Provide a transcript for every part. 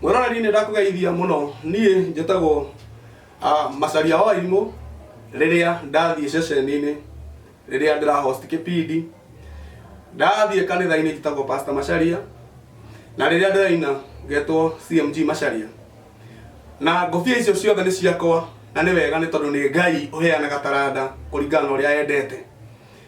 mwĩroreri nĩ ndakũgeithia mũno niĩ njĩtagwo ah, macaria wa imũ rĩrĩa ndathiĩ ceceni-inĩ rĩrĩa ndĩra host kĩpindi ndathiĩ kanitha-inĩ njĩtagwo pastor macaria na rĩrĩa ndĩraina ngetwo cmg macaria na ngobia icio ciothe nĩ ciakwa na nĩ wega nĩ tondũ nĩ ngai ũheanaga taranda kũringana na ũrĩa endete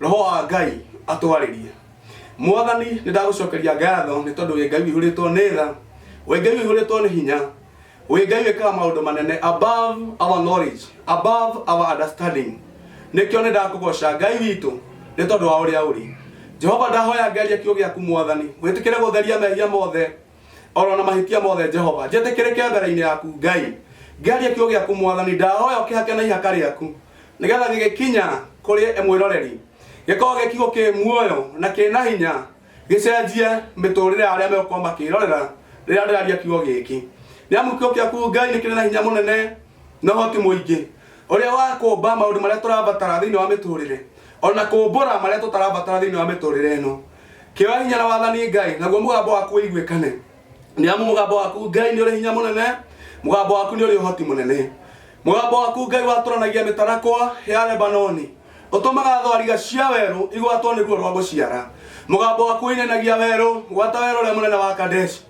roho wa ngai atwarĩrie mwathani nĩ ndagũcokeria ngatho nĩ tondũ wĩ ngai wĩihũrĩtwo nĩ tha wĩ ngai wĩihũrĩtwo nĩ hinya wĩ ngai wĩkaga maũndũ manene above our knowledge above our understanding nĩkĩo nĩ ndakũgoca ngai witũ nĩ tondũ wa ũrĩa ũrĩ jehova ndahoya ngeria kiugo gĩaku mwathani wĩtĩkĩre gũtheria mehia mothe oro na mahĩtia mothe jehova njĩtĩkĩrĩke mbere-inĩ yaku ngai ngerie kiugo gĩaku mwathani ndahoya ũkĩhake na ihaka rĩaku nĩgetha gĩgĩkinya kũrĩ mwĩroreri gĩkorwo gĩ kiugo kĩ muoyo na kĩ na hinya gĩcenjie mĩtũrĩre ya arĩa megũkorwo makĩrorera rĩrĩa ndĩraria kiugo gĩkĩ nĩ amu kiugo gĩaku ngai nĩ kĩrĩ na hinya mũnene na ũhoti mũingĩ ũrĩa wa kũmba maũndũ marĩa tũrabatara thĩinĩ wa mĩtũrĩre ona kũmbũra marĩa tũtarabatara thĩinĩ wa mĩtũrĩre ĩno Kĩoya hinya na wathani Ngai, naguo mũgambo waku ũiguĩkane. Nĩ amu mũgambo waku Ngai nĩ ũrĩ hinya mũnene, mũgambo waku nĩ ũrĩ ũhoti mũnene. Mũgambo waku Ngai watũranagia mĩtarakwa ya Lebanoni, ũtũmaga thwariga cia werũ igwatwo nĩ ruo rwa gũciara. Mũgambo waku ũinainagia werũ, gwata werũ ũrĩa mũnene wa Kadeshi.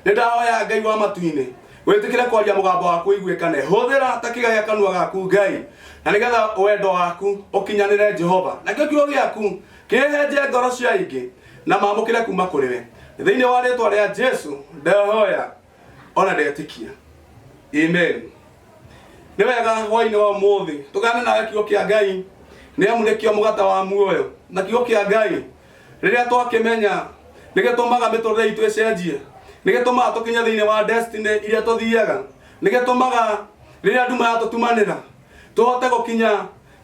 Nĩ ndahoya Ngai wa matu-inĩ, wĩtĩkĩre kwaria mũgambo waku ũiguĩkane. Hũthĩra ta kĩga gĩa kanua gaku Ngai, na nĩgetha wendo waku ũkinyanĩre Jehova. Nakĩo kiugo gĩaku Kĩhehenje ngoro cia aingĩ na mamũkĩre kuuma kũrĩ we. Thĩinĩ wa rĩĩtwa rĩa Jesu ndahoya o na ndetĩkia. Amen. Nĩ wega hwaĩ-inĩ wa ũmũthĩ tũgane nawe kiugo kĩa Ngai nĩ amu nĩkĩo mũgate wa muoyo na kiugo kĩa Ngai rĩrĩa twakĩmenya nĩ gĩtũmaga mĩtũrĩre itũ ĩcenjie nĩ gĩtũmaga tũkinye thĩinĩ wa destiny iria tũthiaga nĩ gĩtũmaga rĩrĩa nduma yatũtumanĩra tũhote gũkinya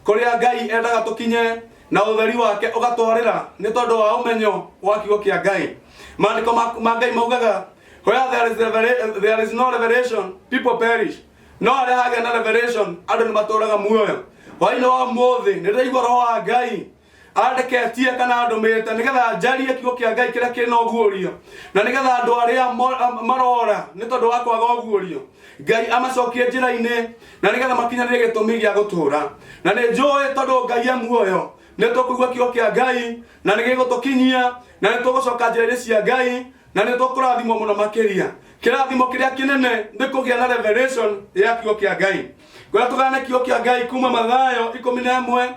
Kũrĩa Ngai endaga tũkinye na ũtheri wake ũgatwarĩra nĩ tondũ wa ũmenyo wa kiugo kĩa Ngai. Maandĩko ma ma Ngai maugaga where there is, revela- there is no revelation people perish. No harĩa hagĩa na revelation andũ nĩ matũũraga muoyo. Hwaĩ-inĩ wa ũmũthĩ nĩ ndĩraigua roho wa Ngai andeketie kana andũmĩte nĩgetha njarie kiugo kĩa ngai kĩrĩa kĩrĩ na ũguũrio na nĩgetha andũ arĩa mo- am- marora nĩ tondũ wa kwaga ũguũrio ngai amacokie njĩra-inĩ na nĩgetha makinyanĩre gĩtũmi gĩa gũtũũra na nĩ njũĩ tondũ ngai e muoyo nĩ tũkũigua kiugo kĩa ngai na nĩ gĩgũtũkinyia na nĩ tũgũcoka njĩra-inĩ cia ngai na nĩ tũkũrathimwo mũno makĩria kĩrathimo kĩrĩa kĩnene nĩ kũgĩa na revelation ya kiugo kĩa ngai kuria tugana na kiugo kia ngai kuma mathayo ikumi na imwe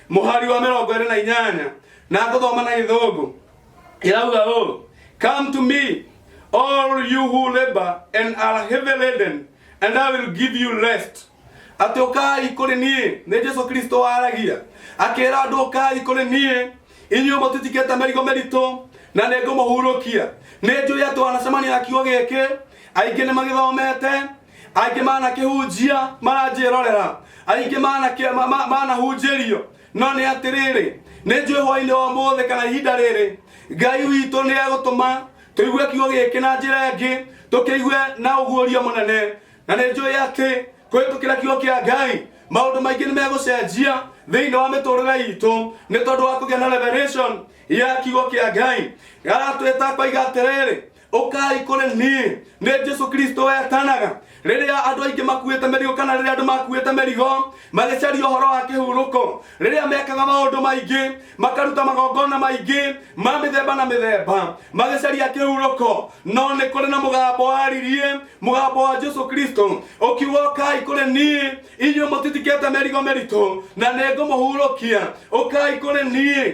muhari wa mirongo iri na inyanya na nguthoma na githungu irauga ũũ come to me all you who labor and are heavy laden and i will give you rest atĩ ũkai kũrĩ niĩ nĩ jesu kristo waragia akĩra andũ ũkai kũrĩ niĩ inyuĩ mũtitikĩte mĩrigo mĩritũ na nĩ ngũmũhurũkia nĩ njũĩ atĩ wanacemania na kiugo gĩkĩ aingĩ nĩ magĩthomete aingĩ manakĩhunjia maranjĩrorera aingĩ manakĩ- ma- ma- manahunjĩrio no nĩ atĩrĩrĩ nĩ njũĩ hwainĩ wa mũthĩ kana ihinda rĩrĩ ngai witũ nĩ egũtũma tũigue kiugo gĩkĩ na njĩra ĩngĩ tũkĩigue na ũguũria mũnene na nĩ njũĩ atĩ kũhĩtũkĩra kiugo kĩa ngai maũndũ maingĩ nĩ megũcenjia thĩinĩ wa mĩtũrĩre itũ nĩ tondũ wa kũgĩa na revelation ya kiugo kĩa ngai aratwĩta koiga atĩrĩrĩ ũkai kũrĩ niĩ nĩ jesu kristo wetanaga rĩrĩa andũ aingĩ makuĩte mĩrigo kana rĩrĩa andũ makuĩte mĩrigo magĩcaria ũhoro wa kĩhurũko rĩrĩa mekaga maũndũ maingĩ makaruta magongona maingĩ ma mĩthemba na mĩthemba magĩcaria kĩhurũko no nĩ kũrĩ na mũgambo waririe mũgambo wa jesu kristo ũkiuga ũkai kũrĩ niĩ inyuĩ mũtitikĩte mĩrigo mĩritũ na nĩ ngũmũhurũkia ũkai kũrĩ niĩ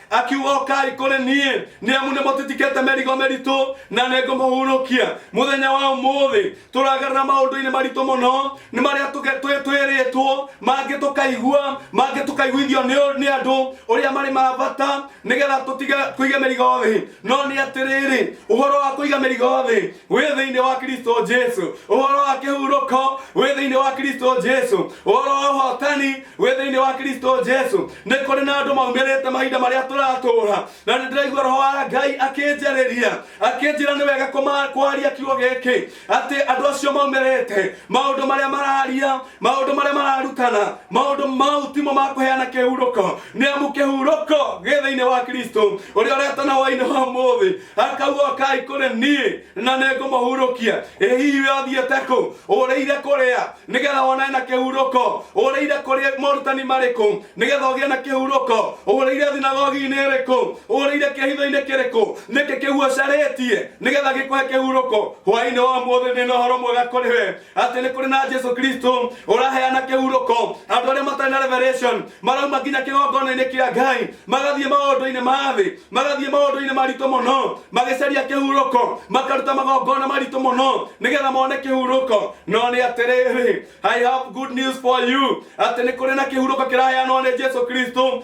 akiuga ũkai kũrĩ niĩ nĩ amu nĩ mũtitikĩte mĩrigo mĩritũ na nĩ ngũmũhurũkia mũthenya wa ũmũthĩ tũragarana maũndũ-inĩ maritũ mũno nĩ marĩa tũge- twĩ- twĩrĩtwo mangĩ tũkaigua mangĩ tũkaiguithio nĩ ũ- nĩ andũ ũrĩa marĩ ma bata nĩgetha tũtige kũiga mĩrigo thĩ no nĩ atĩrĩrĩ ũhoro wa kũiga mĩrigo thĩ wĩ thĩinĩ wa kristo jesu ũhoro wa kĩhurũko wĩ thĩinĩ wa kristo jesu ũhoro wa ũhotani wĩ thĩinĩ wa kristo jesu nĩ kũrĩ na andũ maumĩrĩte mahinda marĩa tũratũũra na nĩ ndĩraigua roho wa ngai akĩnjarĩria akĩnjĩra nĩ wega kũma- kwaria kiugo gĩkĩ atĩ andũ acio maumĩrĩte maũndũ marĩa mararia maũndũ marĩa mararutana maũndũ mau timo ma kũheana kĩhurũko nĩ amu kĩhurũko gĩ thĩinĩ wa kristo ũrĩa ũretana wainĩ wa mũthĩ akaugwo kai kũrĩ niĩ na nĩngũmũhurũkia ĩ hihi we ũthiĩte kũ ũrĩire kũrĩa nĩgetha wonane na kĩhurũko ũrĩire kũrĩa morutani marĩkũ nĩgetha ũgĩe na kĩhurũko ũrĩire thinagogi-inĩ ĩrĩkũ ũrĩire kĩhitho-inĩ kĩrĩkũ nĩkĩ kĩguocarĩtie nĩgetha gĩkũhe kĩhurũko hwainĩ wa mũthĩ nĩ na ũhoro mwega kũrĩ we atĩ nĩ kũrĩ na jesu kristo ũraheana kĩhurũko andũ arĩa matarĩ na revelation marauma nginya kĩgongona-inĩ kĩa ngai magathiĩ maũndũ-inĩ ma thĩ magathiĩ maũndũ-inĩ maritũ mũno magĩcaria kĩhurũko makaruta magongona maritũ mũno nĩgetha mone kĩhurũko no nĩ atĩrĩrĩ i have good news for you atĩ nĩ kũrĩ na kĩhurũko kĩraheanwo nĩ jesu kristo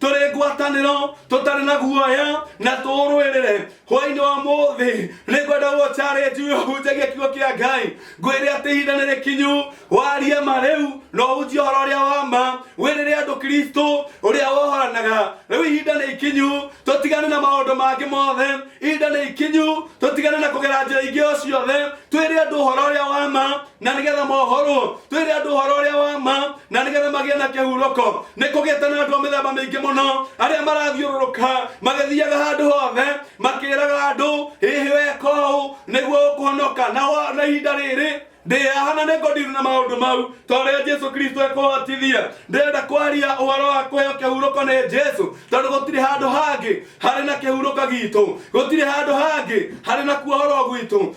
tũrĩ ngwatanĩro tũtarĩ na guoya na tũũrũĩrĩre hwainĩ wa mũthĩ nĩ ngwenda gũtarĩnju hunjagia kiugo kĩa ngai ngwĩre atĩ ihinda nĩ rĩkinyu warie ma rĩu na ũhunjie ũhoro ũrĩa wa ma wĩrĩre andũ kristo ũrĩa wohoranaga rĩu ihinda nĩ ikinyu tũtigane na maũndũ mangĩ mothe ihinda nĩ ikinyu tũtigane na kũgera njĩra ingĩ o ciothe twĩre andũ ũhoro ũrĩa wa ma na nigetha mohorwo twire andu horo uria wa ma na nigetha magie na kihuroko ni kugiete na andu mithemba mingi muno aria marathiururuka magithiaga handu hothe makiraga andu hihi wekau niguo ukuhonoka na wa- na ihinda riri ndĩahana nĩ ngodiru na maũndũ mau torĩa jesu kristo ekũhotithia ndĩrenda kwaria ũhoro wa kũheo kĩhurũko nĩ jesu tondũ gũtirĩ handũ hangĩ harĩ na kĩhurũko gitũ gũtirĩ handũ hangĩ harĩ na kuohorwo gwitũ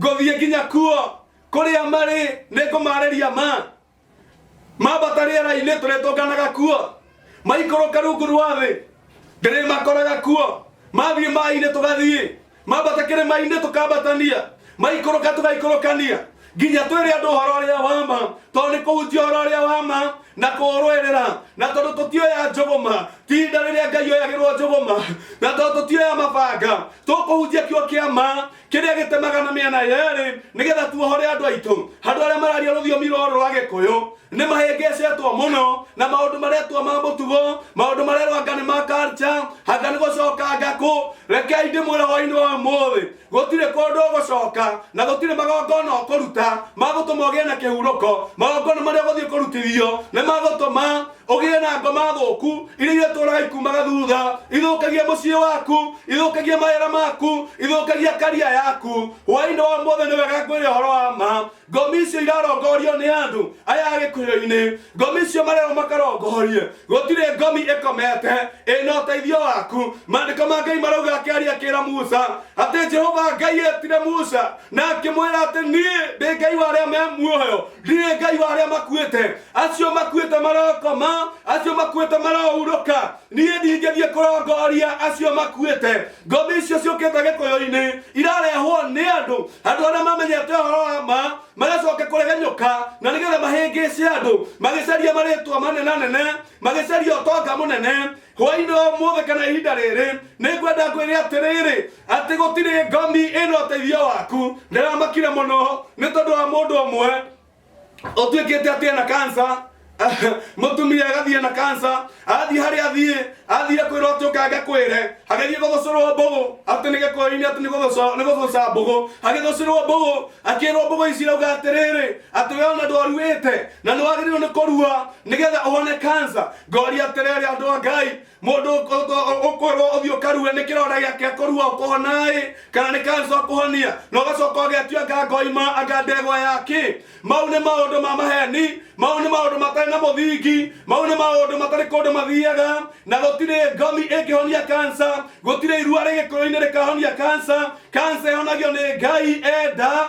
ngũthiĩ nginya kuo kũrĩa marĩ nĩ ngũmarĩria ma mambata rĩera-inĩ tũrĩtũnganaga kuo maikũrũka rungu rwa thĩ ndĩrĩmakoraga kuo mathiĩ maĩ-inĩ tũgathiĩ mambata kĩrĩma-inĩ tũkambatania maikũrũka tũgaikũrũkania nginya twĩre andũ ũhoro ũrĩa wa ma tondũ nĩ kũhunjia ũhoro ũrĩa wa ma na kũũrũĩrĩra na tondũ tũtioya njũgũma ti ihinda rĩrĩa ngai oyagĩrwo njũgũma na tondũ tũtioya mabanga tũkũhunjia kĩo kĩa ma kĩrĩa gĩtemaga na mĩena yerĩ nĩgetha tuohore andũ aitũ handũ arĩa mararia rũthiomi rũrũ rwa gĩkũyũ nĩ mahĩngĩcĩtwo mũno na maũndũ maretwo ma mũtugo maũndũ marerwo anga nĩ ma culture anga nĩ gũcoka ngakũ rekei ndĩmwĩre hwainĩ wa ũmũthĩ gũtirĩ kũndũ ũgũcoka na gũtirĩ magongona ũkũruta magũtũma ũgĩe na kĩhurũko magongona marĩa ũgũthiĩ kũrutithio nĩ magũtũma ũgĩe na ngoma thũku iria iria tũraga ikumaga thutha ithũkagia mũciĩ waku ithũkagia mawĩra maku ithũkagia karia yaku hwainĩ wa mũthĩ nĩ wega kwĩrĩ ũhoro wa ma ngomi icio irarongorio nĩ andũ aya a gĩkuhĩro-inĩ ngomi icio marerwo makarongorie gũtirĩ ngomi ĩkomete ĩna ũteithio waku maandĩko ma ngai marauga akĩaria kĩra musa atĩ jehova ngai etire musa na akĩmwĩra atĩ niĩ ndĩ ngai wa arĩa me muoyo ndirĩ ngai wa arĩa makuĩte acio makuĩte marokoma acio makuĩte marohurũka niĩ ndingĩthiĩ kũrongoria acio makuĩte ngombe icio ciũkĩte gĩkũyũ-inĩ irarehwo nĩ andũ andũ arĩa mamenyete ũhoro wa ma magacoka kũregenyũka na nĩgetha mahĩngĩce andũ magĩcaria marĩtwa manene nene magĩcaria ũtonga mũnene hwainĩ wa ũmũthĩ kana ihinda rĩrĩ nĩ ngwenda ngwĩre atĩrĩrĩ atĩ gũtirĩ ngomi ĩna ũteithio waku ndĩramakire mũno nĩ tondũ wa mũndũ ũmwe ũtuĩkĩte atĩ ena kansa mũtumia agathiĩ na kansa athiĩ harĩa athiĩ athire kwĩrwo atĩ ũkange kwĩre agĩthiĩ gũthũcũrwo mbũgũ atĩ nĩ gĩkũyũ-inĩ atĩ nĩ gũthũcwo- nĩ gũthũca mbũgũ agĩthũcũrwo mbũgũ akĩrwo mbũgũ ici rauga atĩrĩrĩ atĩ we ona ndwaruĩte na nĩ wagĩrĩirwo nĩ kũrua nĩgetha ũhone kansa ngoria atĩrĩrĩ andũ a ngai mũndũ ũkwĩrwo ũthiĩ ũkarue nĩ kĩronda gĩake kũrua ũkũhonaĩ kana nĩ kansa ũkũhonia na ũgacoka ũgetua anga ngoima anga ndegwa yakĩ mau nĩ maũndũ ma maheni mau nĩ maũndũ matarĩ na mũthingi mau nĩ maũndũ matarĩ kũndũ mathiaga na gũtirĩ ngomi ĩngĩhonia kansa gũtirĩ irua rĩgĩkũyũ-inĩ rĩkahonia kansa kansa ĩhonagio nĩ ngai enda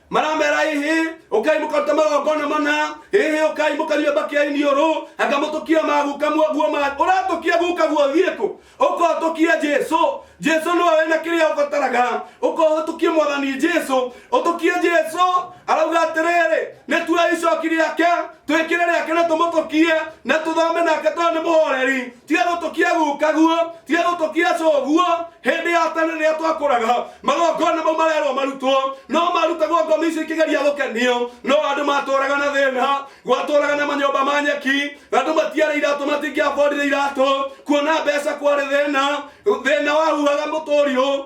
maramera ĩhĩ ũkai mũkaruta magongona mana ĩhĩ ũkai mũkaria bakia iniũrũ anga mũtũkia maguka guo ma ũratũkia guka guo thiĩkũ ũkotũkia jesu jesu nĩwe wĩna kĩrĩa ũbataraga ũkohũtũkie mwathani jesu ũtũkie jesu arauga atĩrĩrĩ nĩ tuoe icoki rĩake twĩkĩre rĩake na tũmũtũkie na tũthome nake tondũ nĩ mũhoreri tiga gũtũkia guka guo tiga gũtũkia coguo hĩndĩ ya tene rĩrĩa twakũraga magongona mau marerwo marutwo no marutagwo ngomi icio ikĩgeria gũkenio no andũ matũraga na thĩna gwatũraga na manyũmba ma nyeki andũ matiarĩ iratũ matingĩabondire iratũ kuona mbeca kwarĩ thĩna thĩna wahuhaga mũtũriũ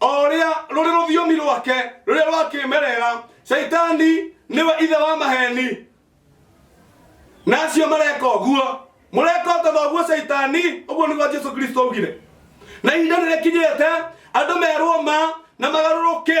o ũrĩa rũrĩ rũthiomi rwake rũrĩa rwakĩmerera caitani nĩwe ithe wa maheni na acio mareka ũguo mũreka o ta thoguo caitani ũguo nĩguo jesu kristo augire na ihinda nĩ rĩkinyĩte andũ merwo ma na magarũrũke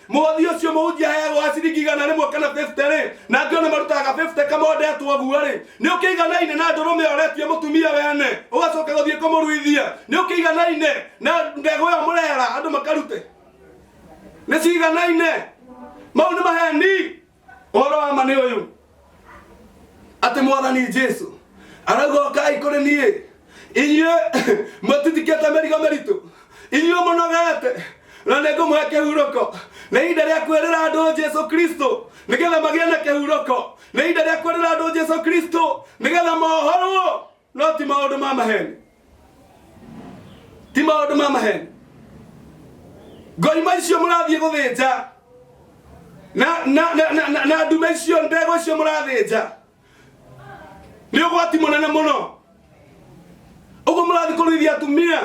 mũhothi ũcio mũhunjia aheagwo wa ciringi igana rĩmwe kana 50 rĩ na angĩ ona marutaga 50 kamondetwo guo rĩ nĩ ũkĩiganaine na ndũrũme oretie mũtumia wene ũgacoka gũthiĩ kũmũruithia nĩ ũkĩiganaine na mbegũ ĩyo mũrera andũ makarute nĩ ciganaine mau nĩ maheni ũhoro wa ma nĩ ũyũ atĩ mwathani jesu arauga ũkai kũrĩ niĩ inyuĩ mũtitikĩte mĩrigo mĩritũ inyuĩ mũnogete na nĩ ngũmũhe kĩhurũko nĩ ihinda rĩa kwĩrĩra andũ jesu kristo nĩgetha magĩe na kĩhurũko nĩ ihinda rĩa kwĩrĩra andũ jesu kristo nĩgetha mohorwo no ti maũndũ ma maheni ti maũndũ ma maheni ngoima icio mũrathiĩ gũthĩnja na, na, na, na, na, na ndume icio ndegwa icio mũrathĩnja nĩ ũgwati mũnene mũno ũguo mũrathiĩ kũrĩithia atumia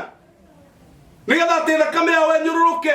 nĩgetha atĩ thakame yao enyũrũrũke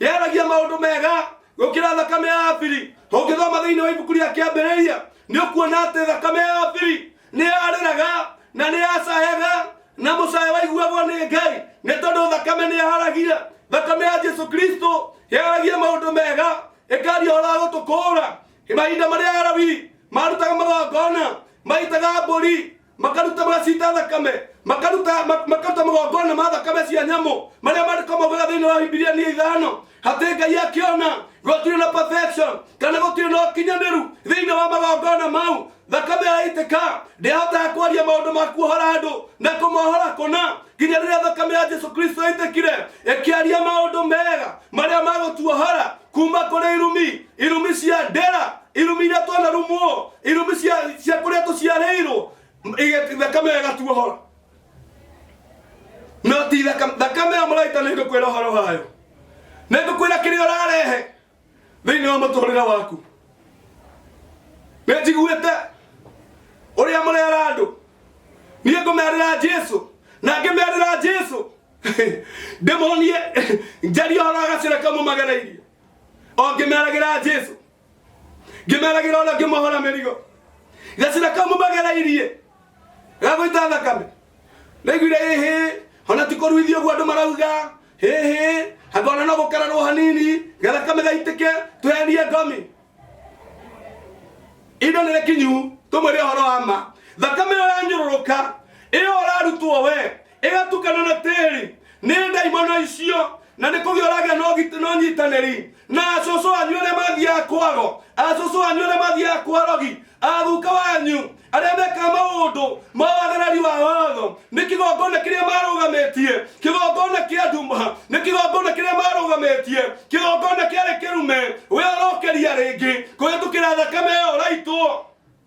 yaragia maũndũ mega gũkĩra thakame ya abiri ũngĩthoma thĩinĩ wa ibuku rĩa kĩambĩrĩria nĩ ũkuona atĩ thakame ya abiri nĩ yarĩraga na nĩ yacayaga na mũcaya waiguagwo nĩ ngai nĩ tondũ thakame nĩ yaharagia thakame ya jesu kristo yaragia maũndũ mega ĩkaria ũhoro wa gũtũkũũra mahinda marĩa arabi marutaga magongona maitaga mbũri makaruta magacita thakame makaruta ma- makaruta magongona ma thakame cia nyamũ marĩa mandĩko maugaga thĩinĩ wa bibilia nĩ ithano hatĩ ngai akĩona gũtirĩ na perfection kana gũtirĩ na ũkinyanĩru thĩinĩ wa magongona mau thakame yaitĩka ndĩahotaga kwaria maũndũ ma kuohora andũ na kũmohora kũna nginya rĩrĩa thakame ya jesu kristo yaitĩkire ĩkĩaria maũndũ mega marĩa magũtuohora kuma kũrĩ irumi irumi cia ndera irumi iria twanarumwo irumi cia- cia kũrĩa tũciarĩirwo ĩgä- thakame ĩyo ĩgatuohora no ti thakame thakame ĩyo mũraita nĩ ngũkwĩra ũhoro wayo nĩ ngũkwĩra kĩrĩa ũrarehe thĩinĩ wa mũtũrĩre waku nĩ njiguĩte ũrĩa mũrera andũ niĩ ngũmerĩra jesu na ngĩmerĩra jesu ndĩmonie njarie ũhoro wa gacĩra kamwe magereirie o ngĩmeragĩra jesu ngĩmeragĩra ũrĩa ngĩmohora mĩrigo gacira kamũmagereirie gagũita thakame ndaiguire hĩhĩ ona ti kũruithio ũguo andũ marauga hĩhĩ anga ona no gũkararwo hanini gathakame gaitĩke tweherie ngomi indo nä kinyu tå mwä re å horo wa ma thakame ä yo yanyå rå rå ka ä yo å rarutwo we ĩgatukana na tĩri nĩ ndaimono icio na nĩ kũgĩa ũragĩa na ũgit- na ũnyitanĩri na acũcũ wanyu arĩa mathiaga kwaro acũcũ wanyu arĩa mathiaga kwarogi athuka wanyu arĩa mekaga maũndũ ma wagarari wa watho nĩ kĩgongona kĩrĩa marũgamĩtie kĩgongona kĩa nduma nĩ kĩgongona kĩrĩa marũgamĩtie kĩgongona kĩarĩ kĩrume we ũrokeria rĩngĩ kũhĩtũkĩra thakame ĩyo ũraitwo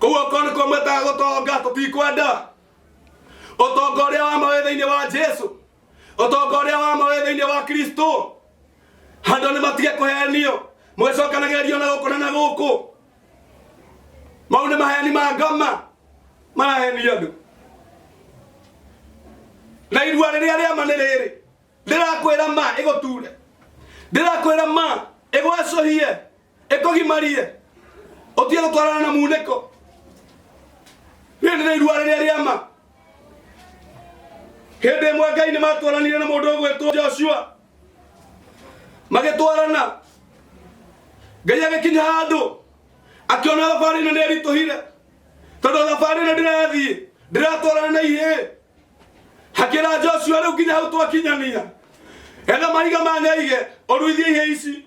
koguo ko nĩkuo mwĩtaga gũtonga tũtikwenda ũtonga ũrĩa wa mawĩ thĩinĩ wa jesu ũtonga ũrĩa wa mawĩ thĩinĩ wa kristo handũ nĩ matige kũhenio mũgĩcokanagĩrĩrio na gũkũ na na gũkũ mau nĩ maheni ma ngoma marahenia andũ na irua rĩrĩa rĩama nĩ rĩrĩ ndĩrakwĩra ma ĩgũture ndĩrakwĩra ma ĩgwacũhie ĩkũgimarie ũtige gũtwarana na munĩko rĩrĩ nĩ irua rĩrĩa rĩa ma hĩndĩ ĩmwe ngai nĩ matwaranire na mũndũ ũgwĩtwo joshua magĩtwarana ngai agĩkinya handũ akĩona thabarĩ ĩno nĩ ĩritũhire tondũ thabarĩ ĩno ndĩrathiĩ ndĩratwarana na ihĩĩ hakĩra joshua rĩu nginya hau twakinyania etha mahiga manyaige ũruithie ihĩĩ ici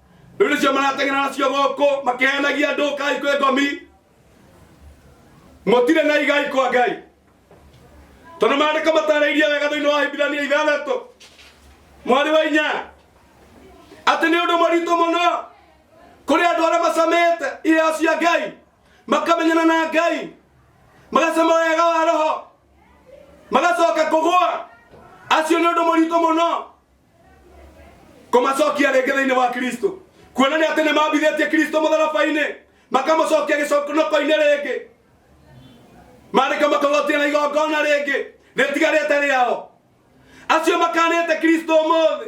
rĩu nĩcio marateng'era nacio gũkũ makehenagia andũ kai kwĩ ngomi mũtirĩ na igai kwa ngai tondũ maandĩko matarĩirie wega thĩinĩ wa hibirania ithathatũ mwarĩ wa inya atĩ nĩ ũndũ mũritũ mũno kũrĩ andũ arĩa macamĩte iheo cia ngai makamenyana na ngai magacama wega wa roho magacoka kũgũa acio nĩ ũndũ mũritũ mũno kũmacokia rĩngĩ thĩinĩ wa kristo kuona nĩ atĩ nĩ mambithĩtie kristo mũtharaba-inĩ makamũcokia gĩconokoinĩ rĩngĩ marĩka makagotia na igongona rĩngĩ rĩtigarĩte rĩao acio makanĩte kristo ũmũthĩ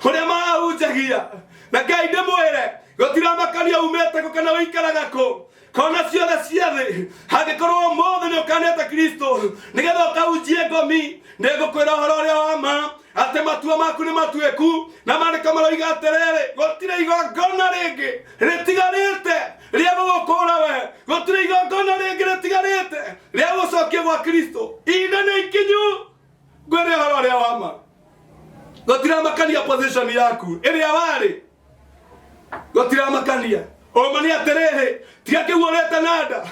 ũrĩa mahunjagia na ngai ndĩmwĩre gũtiramakania umĩte kũ kana ũikaraga kũ kona ciothe cia thĩ angĩkorwo ũmũthĩ nĩ ũkanĩte kristo nĩgetha ũkahunjie ngomi nĩ ngũkwĩra ũhoro ũrĩa wa ma atĩ matua maku nĩ matuĩku na maandĩko maroiga atĩrĩrĩ gũtirĩ igongona rĩngĩ rĩtigarĩte rĩa gũgũkũra we gũtirĩ igongona rĩngĩ rĩtigarĩte rĩa gũcokia gwa kristo ihinda nĩ ikinyu ngwĩre ũhoro ũrĩa wa ma gũtiramakania position yaku ĩrĩa warĩ gutiramakania uma ni atiriri tiga kiu urite na nda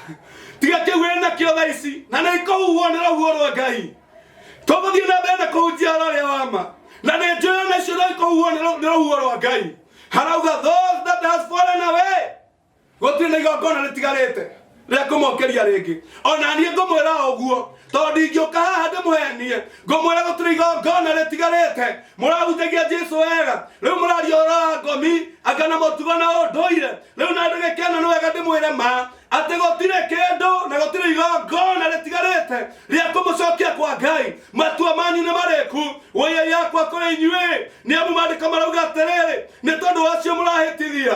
tiga kiu wi nakio tha ici na ni ikuhuhwo ni ruhuo rwa ngai tũgũthiĩ na mbere na kũhunjia ũhoro ũrĩa wa ma na nĩ njũĩ ona icio no ikũhuhwo nĩ rũ- nĩ rũhuho rwa ngai harauga those that has fallen away gũtirĩ na igongona rĩtigarĩte rĩa kũmokeria rĩngĩ ona niĩ ngũmwĩra ũguo tondũ ndingĩũka haha ndĩmũhenie ngũmwĩra gũtirĩ igongona rĩtigarĩte mũrahutagia jesu wega rĩu mũraria ũhoro wa ngomi anga na mũtugo na ũndũire rĩu na ndagĩka ĩno nĩ wega ndĩmwĩre ma atĩ gũtirĩ kĩndũ na gũtirĩ igongona rĩtigarĩte rĩa kũmũcokia kwa ngai matua manyu nĩ marĩku wĩya yakwa kũrĩ inyuĩ nĩ amu maandĩko marauga atĩrĩrĩ nĩ tondũ wacio mũrahĩtithia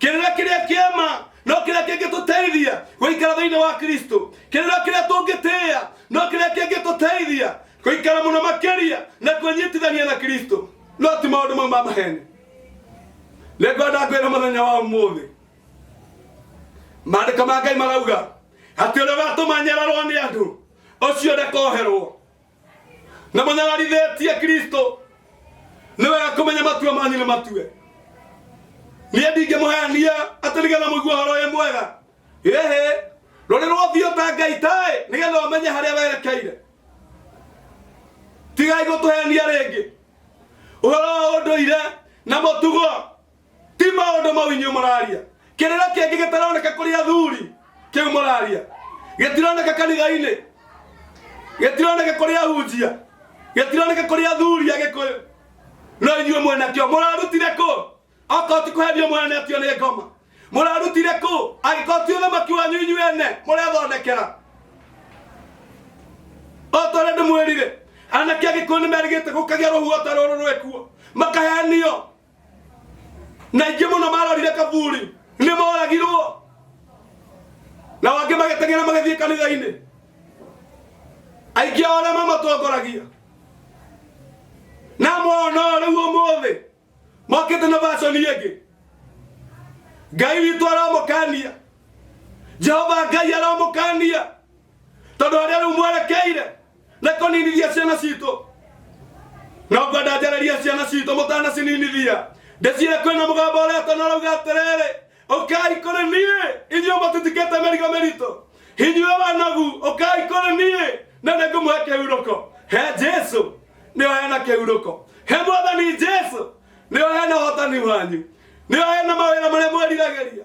kĩrĩra kĩrĩa kĩama no kĩrĩa kĩngĩtũteithia gũikara thĩinĩ wa kristo kĩrĩra kĩrĩa tũngĩtĩĩa no kĩrĩa kĩngĩtũteithia gũikara mũno makĩria na kwĩnyitithania na kristo no ti maũndũ mau ma maheni nĩngwenda kwĩra mũthenya wa ũmũthĩ maandĩko ma ngai marauga atĩ ũrĩa watũmanyararwo nĩ andũ ũcio ndakoherwo na mũnyararithĩtie kristo nĩ wega kũmenya matua manyu nĩ matue niĩ ndingĩmũhenia atĩ nĩgetha mũigua ũhoro wĩ mwega ĩhĩ rũrĩ rũthiũ ta ngai taĩ nĩgetha ũmenye harĩa werekeire tigai gũtũhenia rĩngĩ ũhoro wa ũndũire na mũtugo ti maundu mau inyu muraria kirira kingi gitaroneka kuri athuri kiu muraria gitironeka kanitha-ini gitironeka kuri ahunjia gitironeka kuri athuri agikuyu no inyuĩ mwenakĩo mũrarutire kũ okorwo ti kũhenio mũhenetio nĩ ngoma mũrarutire kũ angĩkorwo ti ũthamaki wanyu inyuĩ ene mũrethondekera o ta ũrĩa ndĩmwĩrire anake agĩkũyũ nĩ merĩgĩte gũkagĩa rũhuho ta rũrũ rwĩkuo makahenio na ingĩ mũno marorire kaburi nĩ moragirwo na angĩ magĩteng'era magĩthiĩ kanitha-inĩ aingĩ ao arĩa mamatongoragia na mwana ũyũ rĩu ũmũthĩ mokĩte na vaconi ĩngĩ ngai witũ aramũkania jehova ngai aramũkania tondũ arĩa rĩu mwerekeire na kũninithia ciana citũ no ngwenda njarerie ciana citũ mũtanacininithia ndĩcire kwĩna mũgambo ũrĩa tana ũrauga atĩrĩrĩ ũkai kũrĩ niĩ inyuĩ mũtitikĩte mĩrigo mĩritũ inyuĩ wanagu ũkai kũrĩ niĩ na nĩngũmũhe kĩhurũko he jesu nĩo hena kĩhurũko he mwathani jesu nĩo hena ũhotani wanyu nĩo hena mawĩra marĩa mweriragĩria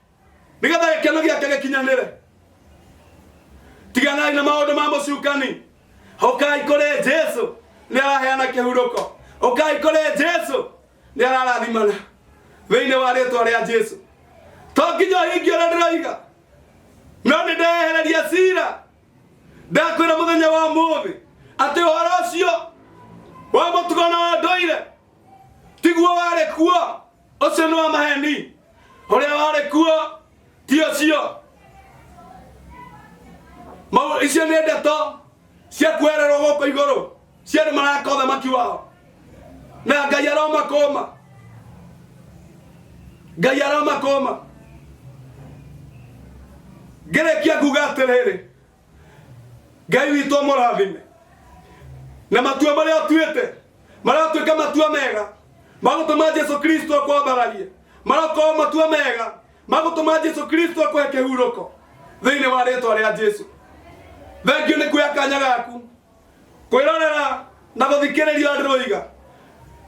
nĩgetha gĩkeno gĩake gĩkinyanĩre tiganai na maũndũ ma mũcukani ũkai kũrĩ jesu nĩ araheana kĩhurũko ũkai kũrĩ jesu nĩ ararathimana thĩinĩ wa rĩtwa rĩa jesu to nginya ũhingie ũrĩa ndĩroiga no nĩ ndehereria cira ndakwĩra mũthenya wa mũthĩ atĩ ũhoro ũcio wa mũtugo na wa ndũire tiguo warĩ kuo ũcio nĩ wa maheni ũrĩa warĩ kuo ti ũcio Mau- icio nĩ ndeto cia kwererwo gũkũ igũrũ cia andũ maraka ũthamaki wao na ngai aromakũma ngai aromakũma ngĩrĩkia kuga atĩrĩrĩ ngai witũ amũrathime na matua marĩa atuĩte maratuĩka matua mega magũtũma jesu kristo akwambararie marakorwo matua mega magũtũma jesu kristo akũhe kĩhurũko thĩinĩ wa rĩtwa rĩa jesu thengio nĩ kuoya kanya gaku kwĩrorera na gũthikĩrĩria andũ rũiga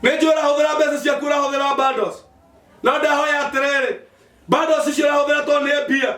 nĩ njũĩ ũrahũthĩra mbeca ciaku ũrahũthĩra bandos no ndahoya atĩrĩrĩ bandos icio ũrahũthĩra tondũ nĩ mbia